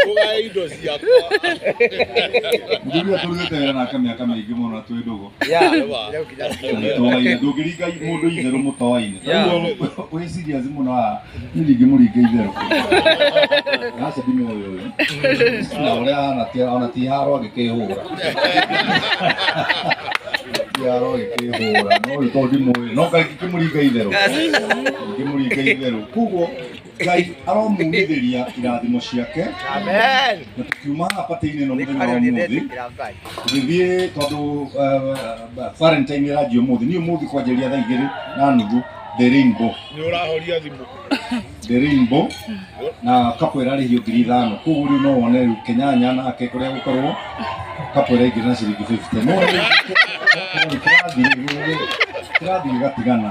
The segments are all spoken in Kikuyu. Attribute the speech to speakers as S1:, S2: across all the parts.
S1: Tũgae indo ciakwa.
S2: Njĩrua tũrugĩte wĩra nake mĩaka mĩingĩ mũno twĩ ndũgũ. Yeah. Mũtoaine, ndũngĩringa mũndũ itherũ mũtoaine. Yeah. Koguo wĩ serious mũno haha, niĩ ndingĩmũringa itherũ. Aca ndimũĩ ũyũ. Na ũrĩa ahana ti- ona ti haro agĩkĩhũra. Ti haro agĩkĩhũra, no ũyũ tondũ ndimũĩ, no kaĩ ingĩkĩmũringa itherũ. Ingĩmũringa itherũ. Koguo ngai aromumithĩria irathimo ciake Amen. na tukiuma patĩinĩ ĩno mũthenya wa ũmũthĩ tũgĩthiĩ tondũ eh, valentine ĩranjia ũmũthĩ niĩ ũmũthĩ kwanjĩria thaa igĩrĩ na nuthu the rainbow nä å rahoria thimå
S1: the
S2: rainbow na kapo ĩrarĩhio ngiri ithano koguo rĩu no wone rĩu kenyanya nake kũrĩa gũkorwo kapo ĩraingĩra na ciringi 50 no rĩu kĩrathi kĩrathi gĩgatigana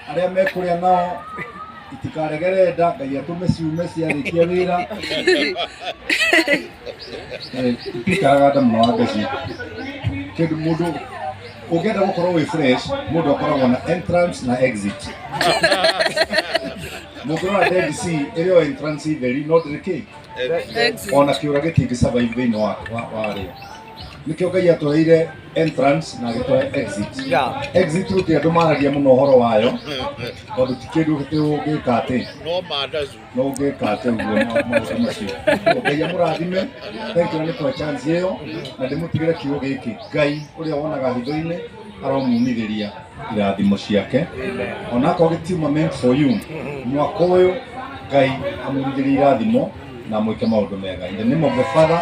S2: arĩa mekũrĩa nao itikaregere nda ngai atũme ciume ciarĩkia wĩra Eh, itikaraga nda mũno wa ngaci kĩndũ mũndũ ũngĩenda gũkorwo wĩ fresh mũndũ akoragwo na entrance na exit mũngĩrora dead sea ĩrĩ o entrance theri no ndĩrĩ kĩ ona kĩũra gĩtingĩ survive thĩinĩ wa wa- warĩo nĩkĩo ngai atũheire entrance na agĩtũhe exit Yeah. exit route andũ maragia mũno ũhoro wayo tondũ ti kĩndũ gĩtĩ ũngĩka atĩ No mandazu. no ũngĩka atĩ ũguo ma- maũndũ macio Ũguo ngai amũrathime thank you nĩ kwa chance ĩyo na ndĩmũtigĩre kiugo gĩkĩ ngai ũrĩa wonaga hitho-inĩ aromunithĩria irathimo ciake onakorwo gĩtiuma meant for you mwaka ũyũ ngai amunithĩrie irathimo na mwĩke maũndũ mega in the name of the father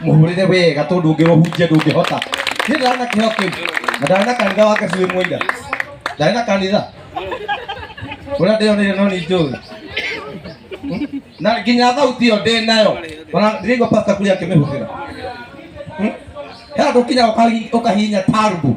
S3: muhurire wega tondu ungirohunjia ndungihota ni ndari na kiho kiu na ndari na kanitha wake cui mwira ndari na kanitha uria ndionire no ni njui na nginya thauti iyo ndi nayo ona ndirigua pastor kuri akimihũthĩra he andũ kinya ũkahinya tarbu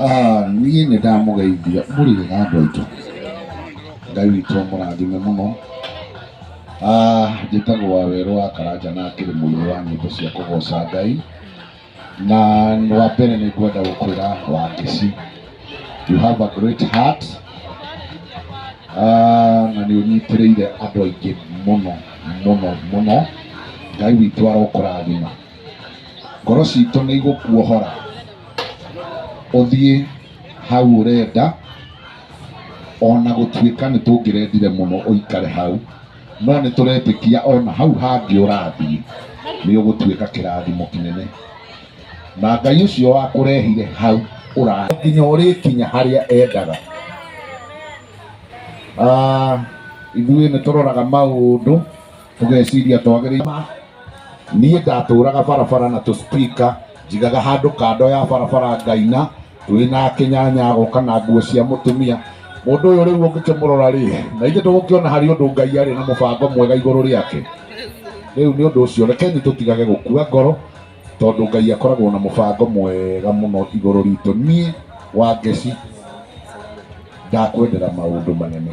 S3: Ah,
S2: niĩ nĩ ndamũgeithia mũrĩega andũ aitũ ngai witũ amũrathime mũno Ah, njĩtagwo wa werũ wa karanja na akĩrĩ mũini wa nyĩmbo cia kũgoca ngai na wa mbere nĩ ngwenda gũkwĩra wangĩci you have a great heart Ah, na nĩ ũnyitĩrĩire andũ aingĩ mũno mũno mũno ngai witũ arokũrathima ngoro citũ nĩ igũkuohora ũthiĩ hau ũrenda ona gũtuĩka nĩ tũngĩrendire mũno ũikare hau no nĩ tũretĩkia ona hau hangĩ ũrathiĩ nĩ ũgũtuĩka kĩrathimo kĩnene na Ngai ũcio wakũrehire hau ũrathiĩ nginya ũrĩkinya harĩa endaga Ah, ithuĩ nĩ tũroraga maũndũ tũgeciria twagĩrĩire ma niĩ ndatũraga barabara na tũspika njigaga handũ kando ya barabara ngaina twĩ na kĩnyanya agoka na nguo cia mũtumia mũndũ ũyũ rĩu ũngĩkĩmũrora rĩ na ithe tũgũkĩona harĩ ũndũ ngai arĩ na mũbango mwega igũrũ rĩake rĩu nĩ ũndũ ũcio rekeni tũtigage gũkua ngoro tondũ ngai akoragwo na mũbango mwega mũno igũrũ ritũ niĩ wangeci ndakwendera maũndũ manene